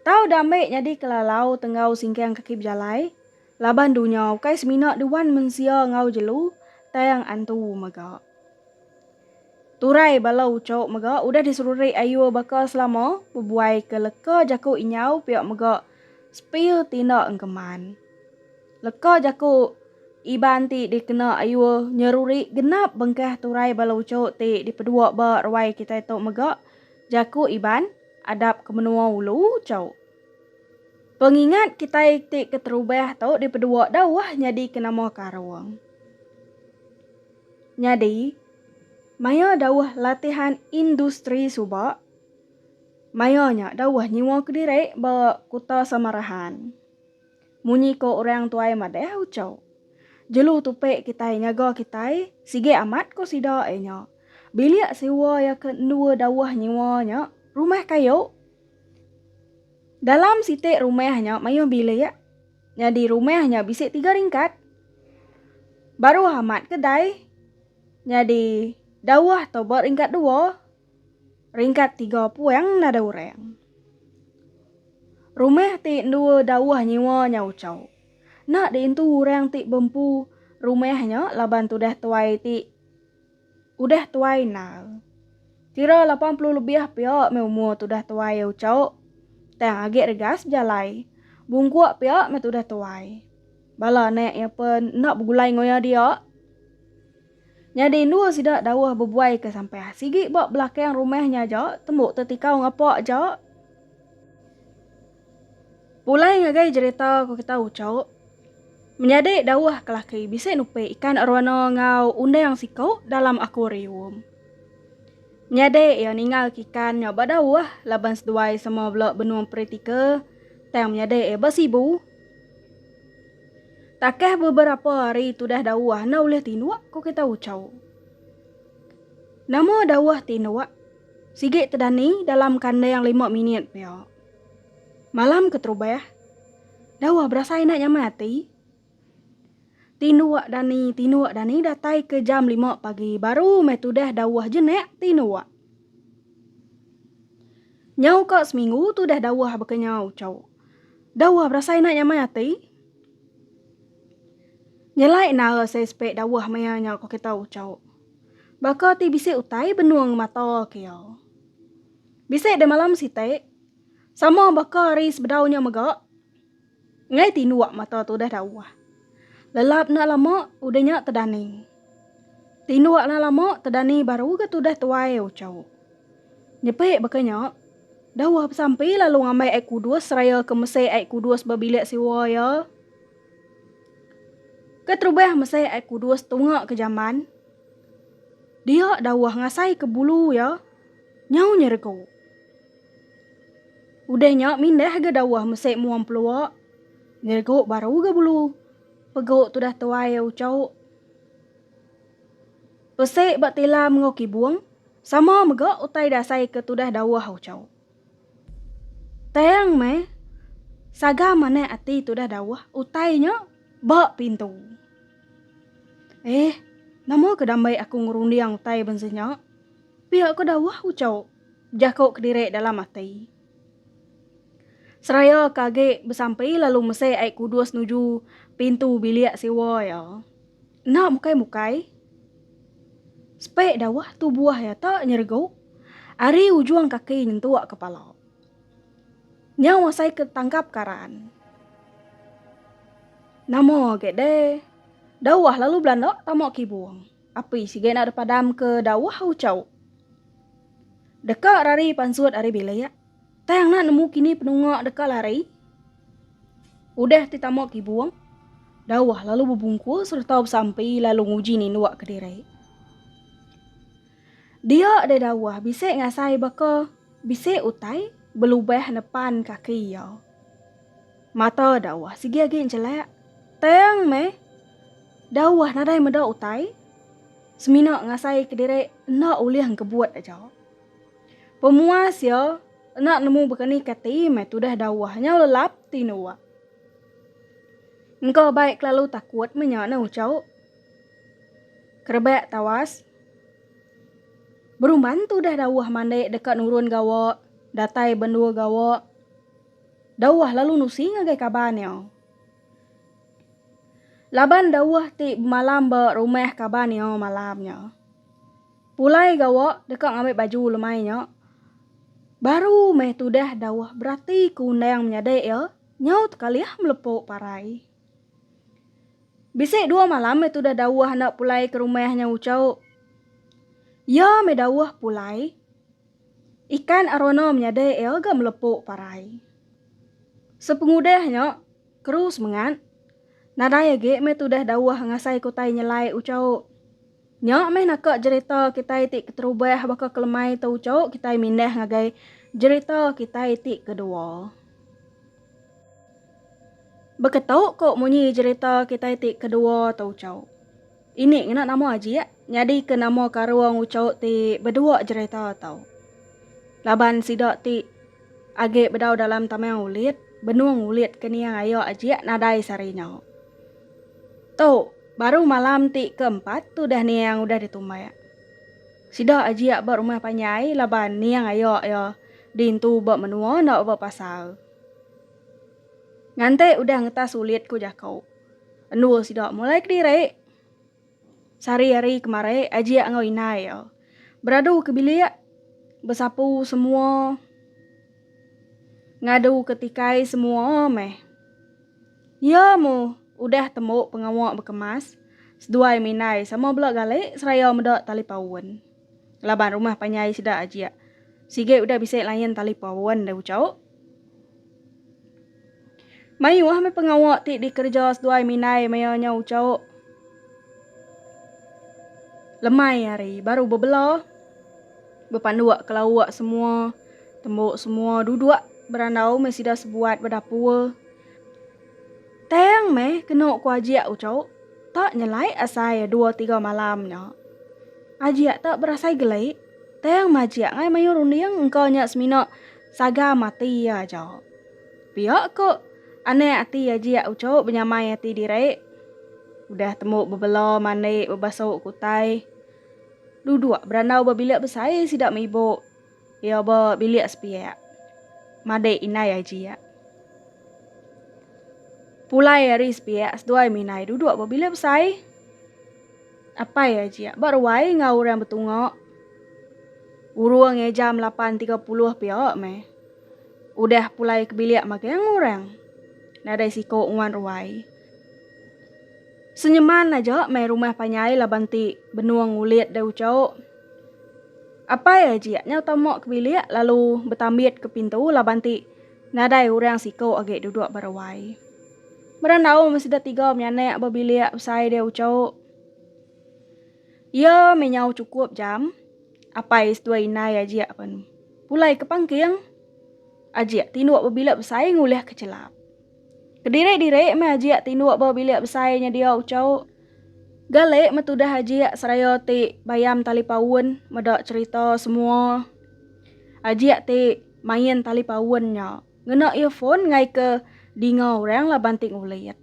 Tau dambe nyadi kelalau tenggau singkang kaki bejalai, laban dunya ukai semina duan mensia enggau jelu tang antu mega. Turai bala ucho mega udah diserurik ayur baka selama bebuai ke leka jaku inyau pia mega spill tinda engkeman. Leka jaku Iban ti dikena ayur nyerurik genap bengkah turai bala ucho ti dipedua ba ruai kitai tu mega jaku Iban, Adap ke menua ulu chau. Pengingat kitai ti keterubah tu dipedua dauh nyadika nama karung. Nyadi, maya dauh latihan industri suba, maya nya dauh nyiwa kediri ba Kuta Samarahan. Munyi ko orang tuai madah ucau. Jelu tupi kitai nyaga kitai sigi amat ko sida ai nya. Bilik siwa ya ke endua dauh nyiwa nya rumah kayu. Dalam siti rumah nya mayuh bilik. Nyadi rumah nya bisi tiga ringkat. Baruh amat kedai. Nyadi dauh to ba ringkat dua. Ringkat tiga puang nadai urang. Rumah ti endua dauh nyiwa nya uchau. Enda diintu urang ti bempu rumah nya laban tudah tuai ti udah tuai endar. Kira lapan puluh lebih pia meh umur tudah tuai uchau. Tang agi regas bejalai. Bungkuk pia meh tudah tuai. Bala anak iya pen enda begulai enggau iya dia. Nyadi endur sida dauh bebuai ke sampah sigi ba belakang rumah nya aja tembu tetikau ngapa aja. Pulai ngagai jerita ku kita uchup. Menyadi dauh kelaki bisi nupi ikan arowana enggau undang siku dalam akuarium. Menyadi iya ningal ke ikan nya ba dauh laban seduai sama bela benung peritika tang menyadi iya ba sibu. Takah beberapa hari tudah Dauah enda ulih tinduk, ku kita Ucau. Nama Dauah tinduk? Sigi tedani dalam kandang lima minit pia. Malam keterubah, Dauah berasai enda nyaman ati. Tinduk dani, tinduk dani datai ke jam lima pagi baru meh tudah Dauah jenak tinduk. Nyau ka seminggu tudah Dauah baka nya Ucau. Dauah berasai enda nyaman ati. Nyelai nara sai spek dawah maya nya ko kita ucok. Baka ti bisi utai benung mata kio. Bisi deh malam sitek, sama baka hari sebedau nya mega, ngai tinduk mata tu deh dawah. Lelap enda lama udeh nya tedani. Tinduk enda lama tedani baru ga tu deh tuai ucok. Nyepek baka nya. Dauh besampi, lalu ngambai ai kudus seraya ke mesih ai kudus ba bilik siwa iya. Keterubah mesih ai kudus tunga ke jaman, dia dauh ngasaika bulu iya nyau nyeregu. Udah nya mindah ga dauh mesih mua empelua, nyeregu baru ga bulu. Pegu tudah tuai iya uchauk. Pesi ba tilam enggau kibung sama mega utai dasai ke tudah dauh Uchau. Tang meh, saga manah ati tudah dauh utai nya ba pintu. Eh, nama ke dambai aku ngerunding utai benseh nya? Pia ke dauh Uchau, jaku kediri dalam ati. Seraya ke agi besampi lalu mesai ai kudus nuju pintu bilik siwa iya. Enda mukai-mukai, sepeik dauh tu buah iya tak nyeregu ari ujung kaki nyentuk ke pala. Nyau asai ke tangkap karan. Nama agi deh, dauh lalu belanda tama kibung. Api sigi enda dipadam ke dauh uchauk. Deka rari pansut ari bilik. Tang enda nemu kini penunga deka lari udah ti tama kibung dauh lalu bebungku sereta besampi lalu nguji ninduka diri. Dia deh dauh bisi ngasai baka bisi utai belubah nepan kaki iya. Mata dauh sigi agi enjelak tang meh dauh nadai meda utai semina ngasai kediri enda ulih engkebut aja. Pemua sia enda nemu berani kati meh tudah dawah nyau lelap ti nuak. Engka baik kelalu takut menya ne ucau. Kerebak tawas. Berumban tudah dawah mandi deka nurun gawa, datai bendur gawa. Dawah lalu nusi ngagai kaban iya. Laban dawah ti bemalam ba rumah kaban iya malam nya. Pulai gawa deka ngambi baju lemai nya baru meh tudah dauh berati ke undang menyadi iya nyau tekalih melepu parai. Bisi dua malam meh tudah dauh enda pulai ke rumah nya uchu. Iya meh dauh pulai ikan arono menyadi iya ga melepu parai. Sepengudah nya keru semengat nadai agi meh tudah dauh ngasai ke utai nyelai uchu. Nya meh naka jerita kitai ti keterubah baka kelemai tu uchu kitai mindah ngagai jerita kitai ti kedua. Beketu ko munyi jerita kitai ti kedua tu uchu. Ini ngena nama ajik nyadi ke nama karung uchu ti bedua jerita tu. Laban sida ti agi bedau dalam tamang ulit, benung ulit ke niang aya ajik nadai sari nya. Tu baru malam ti ke empat tu dah Niang udah ditumba. Sida ajia ba rumah panjai laban Niang aya iya dintu ba menua enda ba pasar. Ngante udah ngetas ulit ku jaku. Endur sida mulai kediri. Sehari hari kemari ajia enggau indai iya beradu ke bilik besapu semua ngadu ke tikai semua meh. Iya mu udah tembu pengawa bekemas seduai Minai sama bela gali seraya meda tali paun. Laban rumah panjai sida ajik, sigi udah bisi lain tali paun deh ucau. Mayuh meh pengawa ti dikereja seduai Minai maya nya ucau. Lemai hari baru bebela. Bepanduk ke lauk semua. Tembuk semua duduk berandau meh sida sebuat ba dapur. Tang meh kenu ku Ajik uchu tak nyelai asai dua tiga malam nya. Ajik tak berasai geli. Tang meh Ajik ngai mayuh runding engka nya semina sagam ati iya aja. Pia ku anak ati Ajik uchu benyamai ati diri. Udah tembuk bebela mandi bebasuk ke utai. Duduk berandau ba bilik besai sida mibu iya ba bilik sepiak. Madik indai aji iya. Pulai ari sepiak seduai minai duduk ba bilik besai. Apai aji iya ba ruai enggau orang betunga. Urung iya jam lapan tiga puluh pia meh. Udah pulai ke bilik magang orang. Nadai siku nguan ruai. Senyeman aja mai rumah panyai laban ti benung ngulit deh ucok. Apai ajik nyau tama ke bilik lalu betambit ke pintu laban ti nadai orang siko agi dudok ba ruai. Meran aum sida tiga menyanak ba bilik besai deh ucok. Iya meh nyau cukup jam apai seduai indai ajik pen pulai ke pangking. Ajik tinduk ba bilik besai ngulih ke chelap. Kediri-diri meh ajik tinduk ba bilik besai nyedia ucau. Galik meh tudah ajik seraya ti bayam tali paun meda cherita semua. Ajik ti main tali paun nya ngena earphone ngaika dinga orang laban ti ngulit.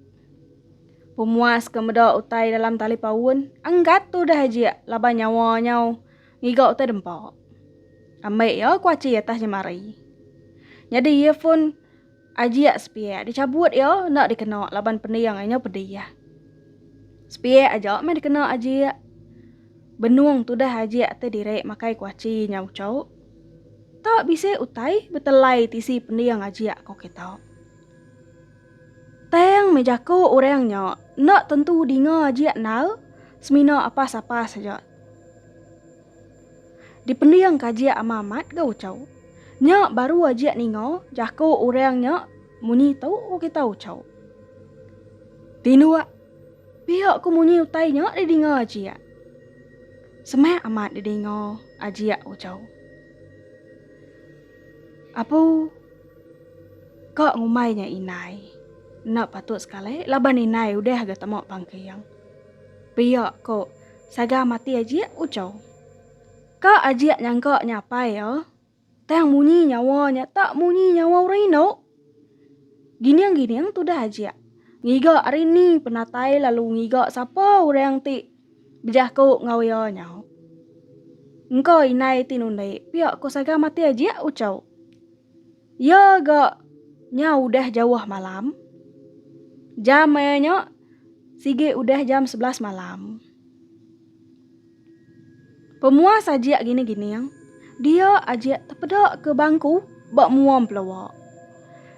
Pemuas ke meda utai dalam tali paun enggat tudah ajik laban nyawa nyau ngiga utai dempa. Ambi iya kuachi atas jemari. Nyadi earphone. Ajiak sepiak dichabut iya enda dikena laban pending inya pedih. Sepiak aja meh dikena ajiak. Benung tudah ajiak te diri makai kuachi nya uchauk. Ta bisi utai betelai tisi pending ajiak ko kita. Tang meh jaku orang nya enda tentu dinga ajiak endar semina apas-apas aja. Dipending ka ajiak amat amat ga ucau. Nya baru ajiak ninga jaku urang nya munyi tu ko kita ucau. Tinduk piak ko munyi utai nya di dinga ajiak. Semak amat di dinga ajiak ucau. Apu ka ngumbai nya inai. Enda patut sekali laban inai udah ga tama pangking. Piak ko. Saga mati ajik ucau. Ka ajik nyangka nya apai iya, tang munyi nyawa nya tak munyi nyawa orang indu. Gining-gining tudah ajik, ngiga ari ni penatai lalu ngiga sapa orang ti bejaku enggau iya nyau. Engka indai ti nundi pia ko Saga mati ajik ucau. Iya ga nya udah jauh malam. Jam maya nya sigi udah jam sebelas malam. Pemuas ajik gining-gining, dia ajik tepeda ke bangku ba mua empelua.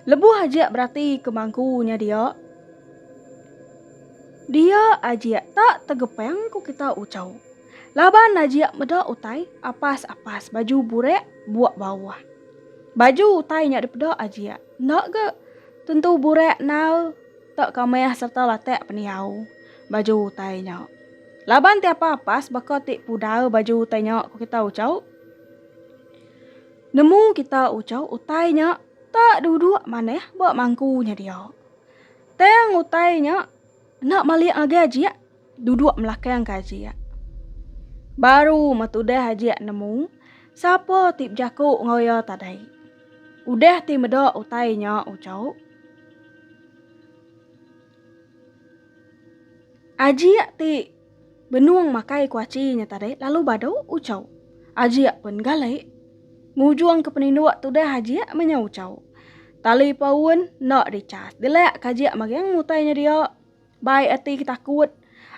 Lebuh ajik berati ke bangku nya dia, dia ajik tak tegepang ku kita uchu. Laban Najib meda utai apas apas baju burak buak bawah. Baju utai nya dipeda ajik. Enda ga tentu burak nal tak kamah serta latak pendiau baju utai nya. Laban ti apa apas baka ti pudar baju utai nya ku kita ucau. Nemu kita ucau utai nya tak duduk manah ba mangku nya dia. Tang utai nya. Enda malik agi ajik duduk melakang ke ajik. Baru meh tudah ajik nemu sapa ti bejaku enggau iya tadai. Udah ti meda utai nya ujuk. Ajik ti. Benung makai kuaci nya tadi lalu badu ucau. Ajik pun gali. Ngujung ke peninduk tudah ajik menya ucau. Tali paun enda di chas. Dilak ke ajik magang mutai nya dia. Baik ati ke takut.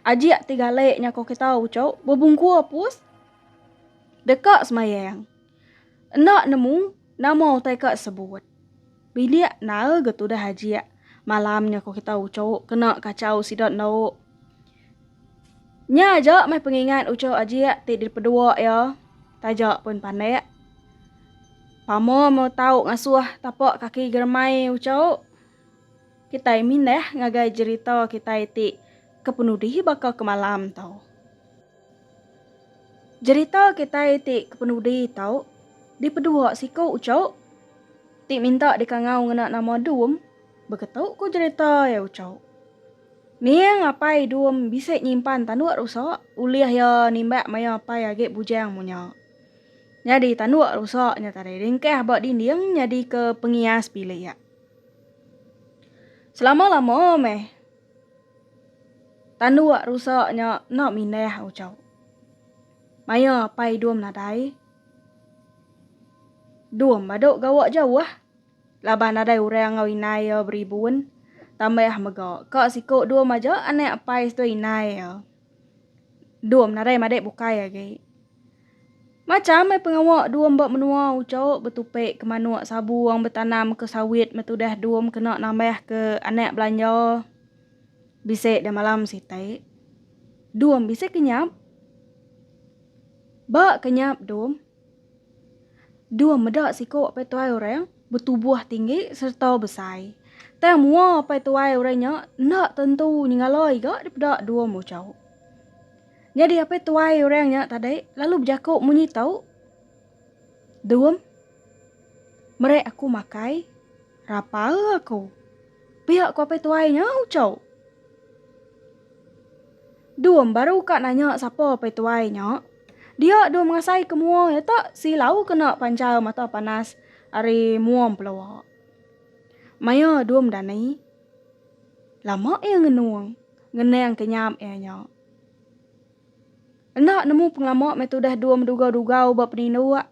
Ajik ti gali nya ko kita ucau bebungkur pus deka semayang. Enda nemu nama utai ka sebut. Bilik nal ga tudah ajik. Malam nya ko kita ucuk kena kachau sida endauk. Nya aja meh pengingat ucuk ajik ti dipeduk iya taja pun pandak. Pama meh tau ngasuh tapak kaki geremai ucuk. Kitai mindah ngagai jerita kitai ti ke penudi baka ke malam tu. Jerita kitai ti kepenudi tau dipedua siku Ucho ti minta dikangau ngena nama Dum beketu ku jerita iya Ucho. Ning apai Dum bisi nyimpan tanduk rusa ulih iya nimbak maya apai agi bujang munya. Nyadi tanduk rusa nya tadi ringkah ba dinding nyadika pengias bilik. Selama lama meh Tanduk rusak nya enda mindah ucau. Maya apai dum nadai, dum badu gawa jauh laban nadai orang enggau inai iya beribun tambah mega ka siku dum aja anak apai seduai inai iya. Dua menarai madik bukai agi. Macham ai pengawa dua mba menua uco betupi ke manuk sabuong betanam ke sawit metudah dua mkena nambah ke anak belanja bisi dah malam siti. Dua bisi kenyap. Ba kenyap dua. Dua meda siku apai tuai orang betubuh tinggi sereta besai. Tang mua apai tuai orang nya enda tentu nyengala iga dipeda dua muchau. Nyadi apai tuai orang nya tadi lalu bejaku munyi tu, Dum, meri aku makai. Rapal aku. Pia ko apai tuai nya ucau. Dum baru ka nanya sapa apai tuai nya. Dia dum ngasai ke mua iya tak si lau kena panjal mata panas ari mua empelua. Maya dum dani. Lama iya ngenung, ngenang ke nyap iya nya. Enda nemu pengelama meh tudah dum dugau-dugau ba penindu iya.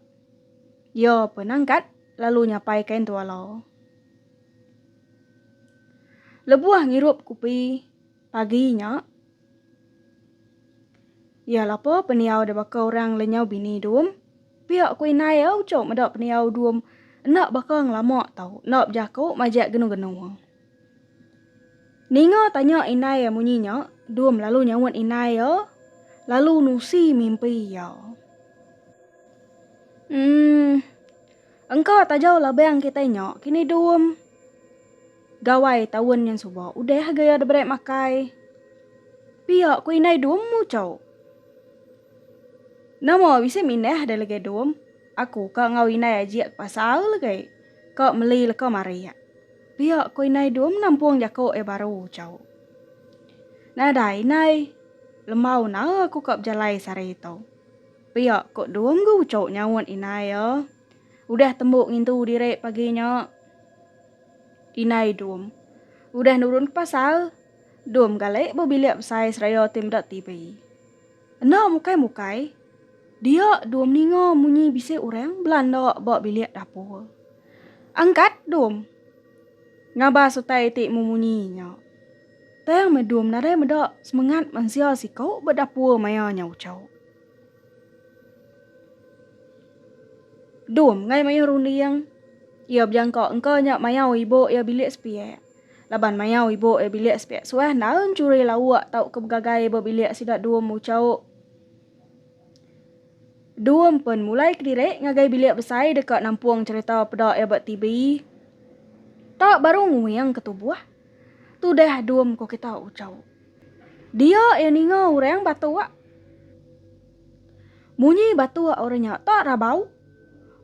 Iya pe nangkat. Lalu nyapai kain tualau. Lebuh ngirup kupi pagi nya, iya lapa pendiau da baka orang lenyau bini dum. Pia ku indai iya uchu meda pendiau dum enda baka ngelama tau, enda bejaku majak genu-genu. Ninga tanya indai iya munyi nya, Dum lalu nyaut indai iya lalu nusi mimpi iya. Hmm. Engka taja labang kitai nya kini Dum. Gawai taun nyin suba udah ga iya diberi makai. Pia ku indai Dum muchau. Nama bisi mindah deh legi Dum. Aku ka enggau indai ajik ke pasar legai ka meli leka marik. Pia ko indai dua menampung jako ia baru ucau. Nadai indai, lembau nara aku ka bejalai sehari itu. Pia ko dua megu ucau nyaut indai ia. Udah tembu ngintu diri pagi nya. Indai dum. Udah nurun ke pasar, dum galik ba bilik besai seraya ti meda TV. Enda mukai-mukai, dia Dum ninga munyi bisi orang belanda ba bilik dapur. Angkat Dum. Ngabas utai ti memunyi nya. Tang meh Dum nadai meda semengat mensia siku ba dapur maya nya uchu. Dum ngai mayuh runding, iya bejangka engka nya mayau ibu iya bilik sepiak. Laban mayau ibu e bilik sepiak suah enda enchuri lauk tauka begagai ba bilik sida dua muchauk dua empen mulai kediri ngagai bilik besai deka nampung cherita peda iya ba TV ta baru nguing ke tubuh. Tudah dum ko kita uchauk. Dia iya ninga orang batuk. Munyi batuk orang nya ta rabau.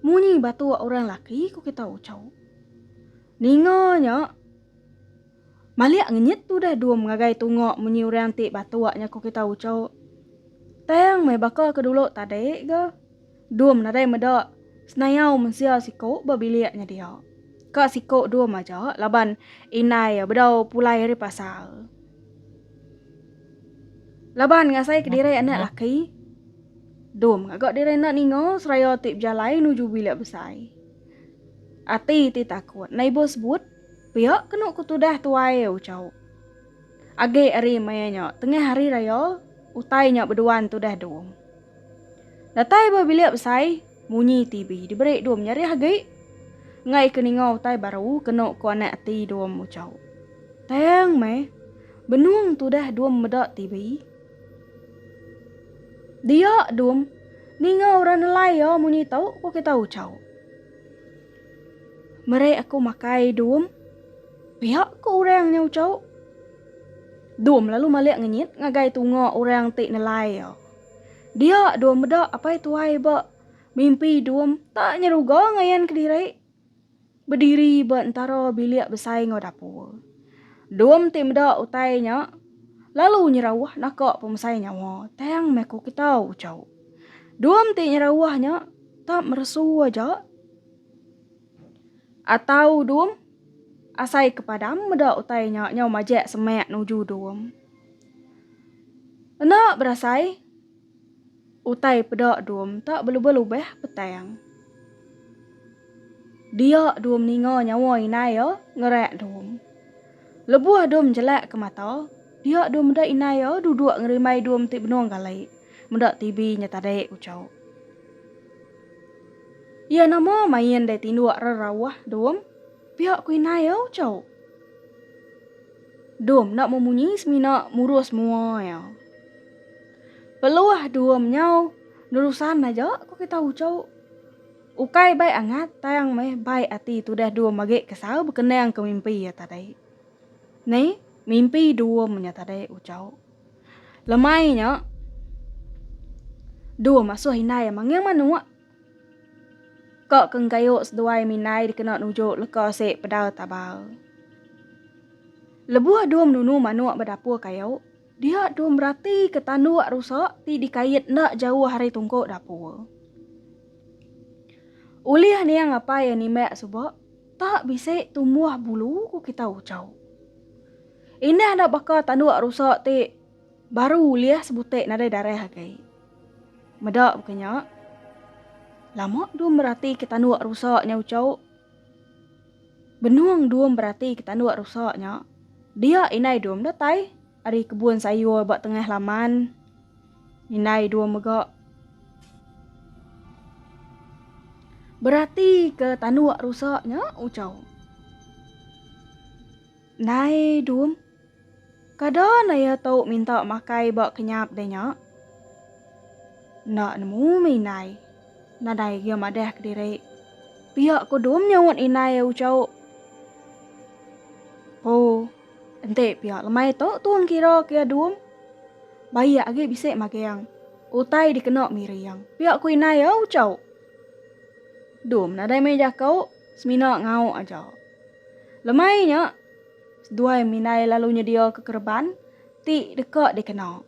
Munyi batuk orang laki ko kita uchauk. Ninga nya, malik ngenyit tudah dua mengagai tunga munyi orang ti batuk nya ku kita ucuk. Tang meh baka ke dulu tadi ga, dum nadai meda senayau mensia siku ba bilik nya dia. Ka siku dum aja laban indai iya bedau pulai ari pasar. Laban ngasaika diri anak laki, dum ngaga diri enda ninga seraya ti bejalai nuju bilik besai. Ati ti takut endai ibuh sebut. Pia kenu ku tudah tuai Uchau. Agi ari maya nya tengah hari raya utai nya beduan tudah dum. Datai ba bilik besai munyi TV diberi dum nyarih agi enggai ke ninga utai baru kenu ku anak ati dum Uchau. Tang meh benung tudah dum meda TV. Dia dum ninga orang nelai ya munyi tau ko kita ucau. Meri aku makai dum. Pia ko orang nya ucau. Dum lalu malik ngenyit ngagai tunga orang ti nelai ya. Dia dum meda apai tuai ba mimpi dum tak nyeruga ngayan kediri. Bediri ba entara bilik besai enggau dapur. Dom ti meda utai nya lalu nyerauh naka pemesai nyawa tang meh ku kita ucau. Dom ti nyerauh nya tak meresu aja atau dom asai ke padam meda utai nya nyau majak semak nuju dom. Enda berasai. Utai peda dum tak belubah-lubah petang. Dia dum ninga nyawa inai iya ngerak dum. Lebuh dum jelak ke mata, dia dum meda inai iya duduk ngerimbai dum ti benung gali meda TV nya tadi ku Chok. Iya nama main deh tinduk rerauh dum pia ku inai iya Chok. Dum enda memunyi semina murus mua iya. Peluah dua menyau nerusan aja ku kita uchu. Ukai bai angat tang meh bai ati tudah dua magi kesau bekenang ke mimpi iya tadi. Ni mimpi dua menya tadi uchu. Lemai nya dua masuh indai manggil manuk ka ke engkayu seduai minai dikena nuju leka se pedal tabal. Lebuh dua menunu manuk ba dapur kayu. Dia tu meratika tanduk rusak ti dikait enda jauh ari tungku dapur. Ulih niang apai animak suba tak bisi tumbuh bulu ku kita ucau. Indah enda baka tanduk rusak ti baru ulih sebutik nadai darah agi. Meda buka nya, lama tu meratika tanduk rusak nya ucau. Benung Dum beratika tanduk rusak nya, dia indai Dum datai ari kebun sayur ba tengah laman. Indai Dum mega beratika tanduk rusak nya, uchau. Indai Dum. Kada naya tu minta makai ba kenyap deh nya. Enda nemu meh indai. Nadai gia madah kediri. Pia kudum nyaut indai ai ucau. Po, enti pia lemai tu tong kira kia dum. Baik agi bisi maging. Utai dikena miring. Pia ku indai ai ucau. Dum nadai meh jaku, semina ngauk aja. Lemai nya. Seduai Minai lalu nyediaka kereban ti deka dikena.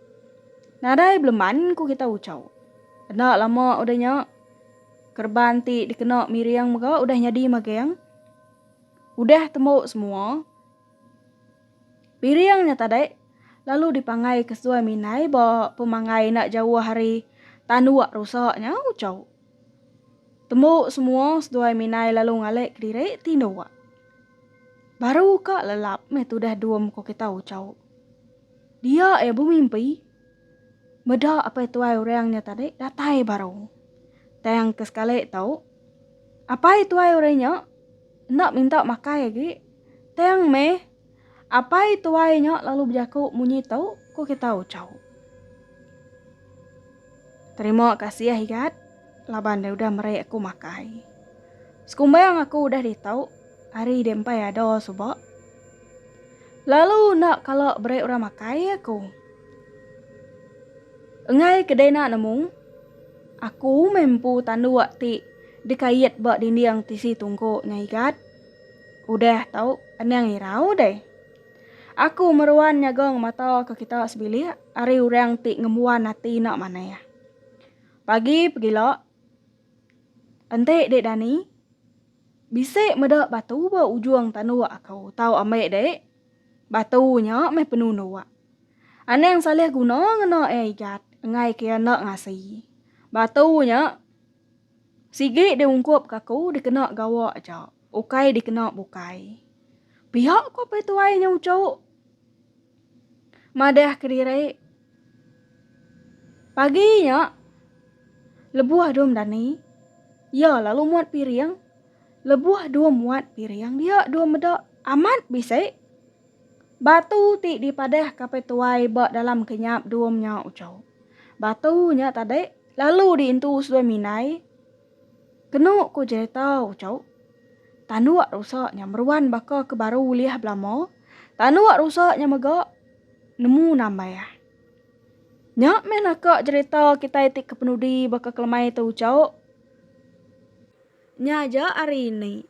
Nadai beleman ku kitai uchau. Enda lama udah nya, kereban ti dikena Miring mega udah nyadi maging. Udah tembu semua, Miring nya tadi lalu dipangaika seduai Minai ba pemanggai enda jauh ari tanduk rusa nya uchau. Tembu semua seduai minai lalu ngalik kediri ti enda uak. Baru ka lelap meh tudah dua muka kita ucau. Dia ia bemimpi. Meda apai tuai orang nya tadi datai baru. Tang ke sekali tu apai tuai orang nya enda minta makai agi tang meh Apai tuai nya lalu bejaku munyi tu ku kita ucau. Terima kasih Igat laban dia udah meri aku makai. Sekumbang aku udah ditau hari dia empai ada suba. Lalu nak kala beri orang makai aku. Engai kedai nak nemu aku mempu tandu ti dikait ba dinding tisi tungku nya Igat. Udah tau endang irau deh. Aku meruan nyagang mata ke kita sebilik ari orang ti ngembuan ati enda manah. Pagi pegila enti dek Dani bisi meda batu ba ujung tanduk aku tau ambi dek. Batu nya meh penunduk. Anang salih guna ngena iya igat enggai ke iya enda ngasi. Batu nya. Sigi di ungkup ke aku dikena gawa aja, ukai dikena bukai. Pia ko peh tuai nya uchu. Madah kediri. Pagi nya lebuh dum dani iya lalu muat piring, lebuh dum muat piring dia dum meda amat bisi. Batu ti dipadah ke peh tuai ba dalam kenyap dum nya uchu. Batu nya tadi Lalu diintu seduai minai, Kenu ku jereta ucau, tanduk rusa nya meruan baka ke baru ulih belama, tanduk rusa nya mega nemu nambah. Nya meh naka jereta kitai ti kepenudi baka kelemai te ucau nya aja ari ini.